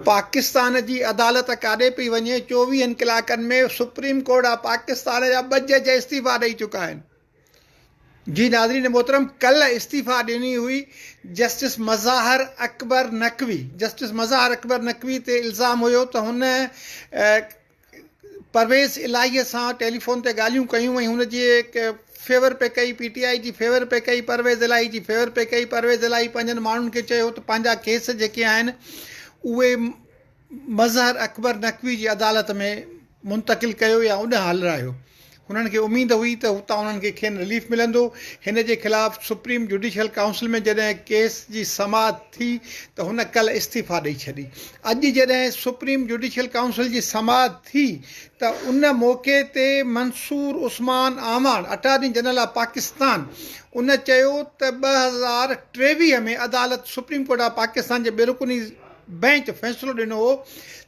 پاڪستان جي عدالت ڪاڏي پئي وڃي، چوويهن ڪلاڪن ۾ سپريم ڪورٽ آف پاڪستان جا ٻه جج استعيفا ڏئي چڪا آهن. جي ناظرين محترم ڪلهه استعيفا ڏني هئي جسٽس مظاهر اڪبر نقوي جسٽس مظاهر اڪبر نقوي تي الزام هيو ته هن پرويز الاهيء سان ٽيليفون تي ڳالهيون ڪيون ۽ هن جي فيور پئي ڪئي، پي ٽي آء جي فيور پئي ڪئي، پرويز الاهي جي فيور پئي ڪئي، پرويز الاهي پنهنجن ماڻهن کي چيو ته پنهنجا ڪيس جيڪي آهن اهي مظهر اڪبر نقوي جي عدالت ۾ منتقل ڪيو يا اوڏانهن هلرايو. هنن کي اميد هئي ته هتان انهن کي کين رليف ملندو. هن جي خلاف سپريم جوڊيشل ڪائونسل ۾ جڏهن ڪيس جي سماعت ٿي ته هن ڪلهه استعيفيٰ ڏئي ڇڏي. اڄ جڏهن سپريم جوڊيشل ڪائونسل جي سماعت ٿي ته ان موقعي تي Mansoor Usman Awan attorney general of Pakistan ان چيو ته ٻه هزار ٽيويهه ۾ عدالت سپريم ڪورٽ آف پاڪستان جي بي رڪني بئنچ فيصلو ڏنو هو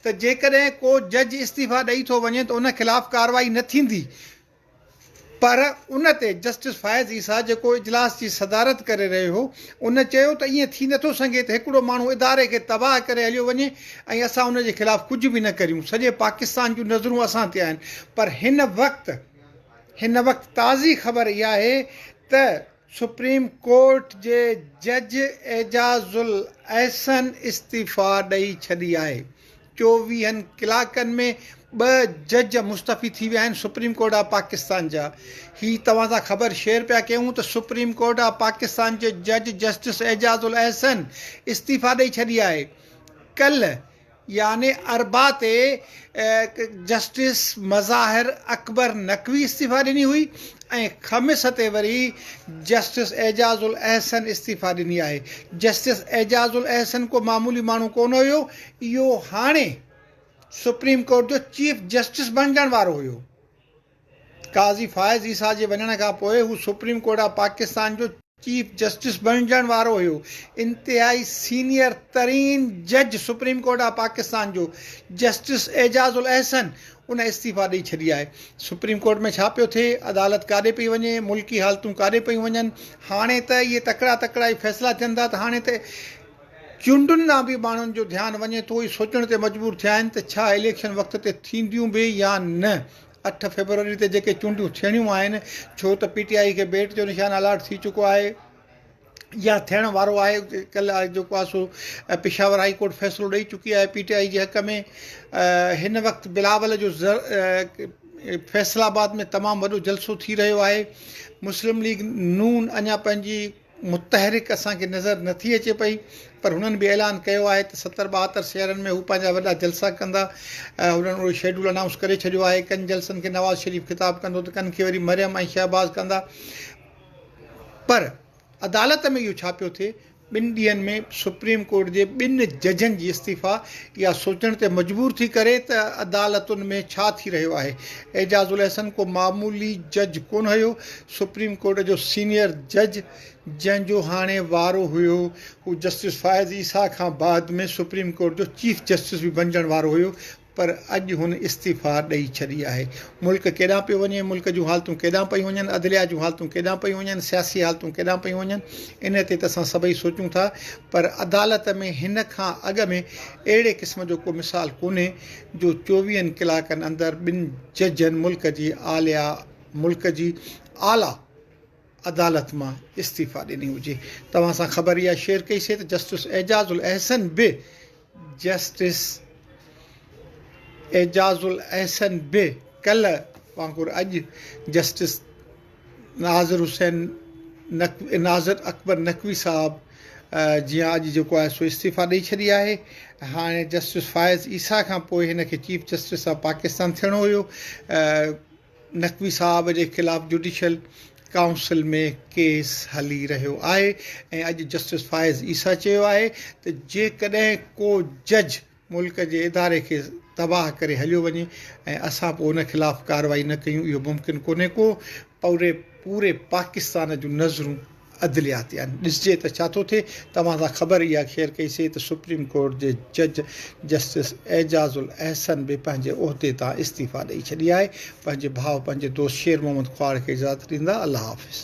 ته جيڪڏهن ڪو جج استعيفيٰ ڏئي ٿو وڃي ته ان خلاف ڪارروائي نه ٿيندي پر ان تي جسٽس فائز عيسيٰ جيڪو اجلاس جي صدارت ڪري رهيو هو ان چيو ته ائين ٿي نٿو سگهي ته هڪڙو ماڻهو اداري کي تباهه ڪري هليو وڃي ۽ اسان ان جي خلاف ڪجهه به نه ڪريون سڄي پاڪستان جون نظرون اسان تي آهن پر هن وقت هن وقت تازي خبر اها آهي ته سپريم ڪورٽ جي جج اعجاز الاحسن استعيفيٰ ڏئي ڇڏي آهي، چوويهن ڪلاڪن ۾ ٻه جج مستعفي ٿي ويا آهن، سپريم ڪورٽ آف پاڪستان جا هي توهان سان خبر شيئر پيا ڪيون ته سپريم ڪورٽ آف پاڪستان جي جج جسٽس اعجاز الاحسن استعيفيٰ ڏئي ڇڏي آهي، ڪلهه يعني اربع تي جسٽس مظاهر اڪبر نقوي استعيفيٰ ڏني هئي ۽ خميس تي وري جسٽس اعجاز الاحسن استعيفيٰ ڏني آهي. جسٽس اعجاز الاحسن ڪو معمولي ماڻهو ڪونه هيو، اهو هاڻي سپريم ڪورٽ جو چيف جسٽس بڻجڻ وارو هيو. قاضي فائز عيسيٰ جي وڃڻ کان پوء هو سپريم ڪورٽ آف پاڪستان جو چيف جسٽس بڻجڻ وارو هيو. انتهائي سينئر ترين جج سپريم ڪورٽ آف پاڪستان جو جسٽس اعجاز الاحسن ان استعيفيٰ ڏئي ڇڏي آهي. سپريم ڪورٽ ۾ ڇا پيو ٿئي، عدالت ڪاڏي پئي وڃي، ملڪي حالتون ڪاڏي پيون وڃن، هاڻي ته اهي تڪڙا تڪڙا ئي فيصلا ٿين ٿا ته هاڻي ته چونڊن ڏانهن به ماڻهن جو ڌيان وڃي ٿو، اهي سوچڻ تي مجبور ٿيا آهن ته ڇا اليڪشن وقت تي ٿينديون به يا نه. اٺ فيبروري تي جيڪي چونڊون ٿيڻيون آهن ڇو ته پي ٽي آئي کي بيٽ جو نشان الاٽ ٿي چڪو آهي يا ٿيڻ وارو آهي ڪلهه جيڪو آهي سو پشاور هائي ڪورٽ فيصلو ڏئي چڪي آهي پي ٽي آئي جي حق ۾ هن وقت بلاول جو فيصل آباد ۾ تمام وڏو جلسو ٿي رهيو آهي مسلم ليگ نون اڃا پنهنجي متحرڪ اسان کي نظر نه ٿي اچي پئي پر هنن به اعلان ڪيو آهي ته ستر ٻاهتر شهرن ۾ هو پنهنجا وڏا جلسا ڪندا هنن اهو شيڊول انائونس ڪري ڇڏيو آهي ڪن جلسن کي نواز شريف خطاب ڪندو ته ڪن کي وري مريم ۽ شهباز ڪندا پر عدالت ۾ اهو ڇا پيو ٿئي ٻن ڏينهن ۾ سپريم ڪورٽ جي ٻن ججن جي استعيفا اها سوچڻ تي مجبور ٿي ڪري ته عدالتن ۾ ڇا ٿي رهيو آهي اعجاز الحسن ڪو معمولي جج ڪونه هيو سپريم ڪورٽ جو سينيئر جج جنهن جو هاڻي وارو هيو هو جسٽس فائز عيسيٰ کان بعد ۾ سپريم ڪورٽ جو چيف جسٽس به بنجڻ وارو هيو پر اڄ هن استعيفيٰ ڏئي ڇڏي آهي. ملڪ ڪيڏانهن پيو وڃي، ملڪ جون حالتون ڪيڏانهن پيون وڃن، عدليا جون حالتون ڪيڏانهن پيون وڃن، سياسي حالتون ڪيڏانهن پيون وڃن ان تي ته اسان سڀئي سوچون ٿا پر عدالت ۾ هن کان اڳ ۾ اهڙي قسم جو ڪو مثال ڪونهي جو چوويهن ڪلاڪن اندر ٻن ججن ملڪ جي اعليٰ ملڪ جي اعليٰ عدالت مان استعيفا ڏني هجي. توهان سان خبر اها شيئر ڪئي سي ته جسٽس اعجاز الاحسن به جسٽس اعجاز الاحسن به ڪلهه وانگر اڄ جسٽس ناظر حسين نقوي ناظر اڪبر نقوي صاحب جيان اڄ جيڪو آهي سو استعيفا ڏئي ڇڏي آهي هاڻي جسٽس فائز عيسيٰ کان پوء هن کي چيف جسٽس آف پاڪستان ٿيڻو هيو نقوي صاحب جي خلاف جوڊيشل ڪائونسل ۾ ڪيس هلي رهيو آهي ۽ اڄ جسٽس فائز عيسيٰ چيو آهي ته جيڪڏهن ڪو جج ملڪ جي اداري کي تباهه ڪري هليو وڃي ۽ اسان پوء ان خلاف ڪارروائي نه ڪيون اهو ممڪن ڪونهي ڪو پوري پاڪستان جون نظرون عدليات يعني ڏسجي ته ڇا ٿو ٿئي توهان سان خبر اها شيئر ڪئي سي ته سپريم ڪورٽ جي جج جسٽس اعجاز الاحسن به پنهنجي عهدي تان استعيفيٰ ڏئي ڇڏي آهي پنهنجي ڀاء پنهنجي دوست شير محمد ڪهاڙ کي اجازت ڏيندا الله حافظ.